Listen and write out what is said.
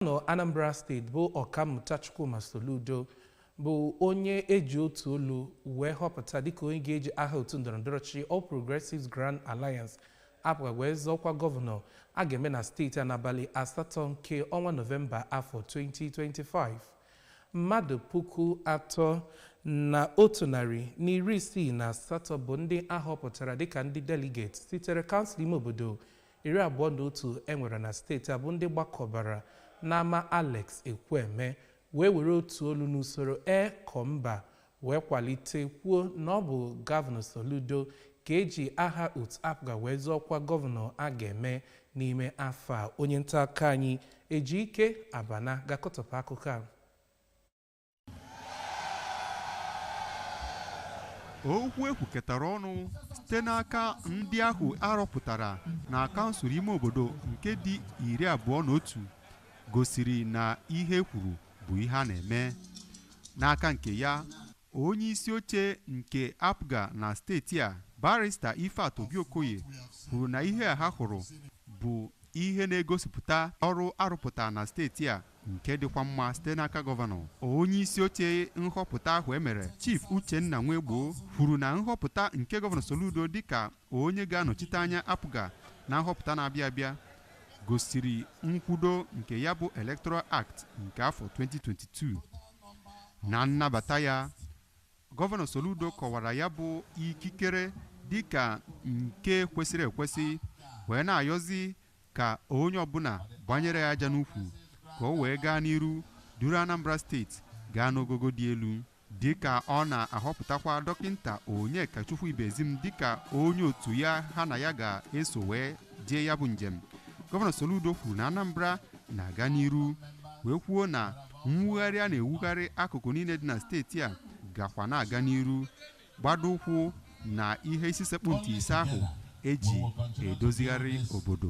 gọvanọ Anambra steeti bụ Ọkammụta Chukwuma Soludo bụ onye eji otu olu wee họpụta dịka onye ga-eji aha otu ndọrọndọrọ ọchịchị All Progressives Grand Alliance APGA wee zọọ ọkwa gọvanọ a ga-eme na steeti a n'abalị asatọ nke ọnwa Nọvemba afọ 2025 mmadụ puku atọ na otu narị na iri isii na asatọ bụ ndị ahọpụtara dịka ndị delegate sitere kansụl ime obodo iri abụọ na otu e nwere na steeti a bụ ndị gbakọbara n'ama Alex Ekwueme wee were otu olu n'usoro ee kọ mba wee kwalite kwuo na ọ bụ gọvanọ Soludo ga-eji aha otu APGA wee zọọ ọkwa gọvanọ a ga-eme n'ime afọ a onye nta akụkọ anyị Ejike Abana ga-akọtọpụ akụkọ a okwu ekwukọtara ọnụ site n'aka ndị ahụ arọpụtara na kansụl ime obodo nke dị iri abụọ na otu gosiri na ihe ekwuru bụ ihe a na-eme n'aka nke ya onye isi oche nke apga na steeti a barista ifeatu obi okoye kwuru na ihe a ha hụrụ bụ ihe na-egosipụta ọrụ arụpụtara na steeti a nke dịkwa mma site n'aka gọvanọ onye isi oche nhọpụta ahụ emere chief uchenna nwegbo kwuru na nhọpụta nke gọvanọ soludo dịka onye ga-anọchite anya apga na nhọpụta na-abịa abịa gosiri nkwudo nke ya bụ electoral act nke afọ 2022 na nnabata ya gọvanọ soludo kọwara ya bụ ikikere dịka nke kwesịrị ekwesị wee na-ayọzi ka onye ọbụla gbanyere ya aja n'ukwu ka o wee gaa n'iru duru Anambra steeti gaa n'ogogo dị elu dịka ọ na-ahọpụtakwa dọkịnta Onyekachukwu Ibezim dịka onye otu ya ha na ya ga-eso wee jee ya bụ njem gọvanọ Soludo kwuru na Anambra na-aga n'iru wee kwuo na mwugharị a na-ewugharị akụkụ niile dị na steeti a gakwa na-aga n'iru gbado ụkwụ na ihe isi sekpụ ntị ise ahụ eji edozigharị obodo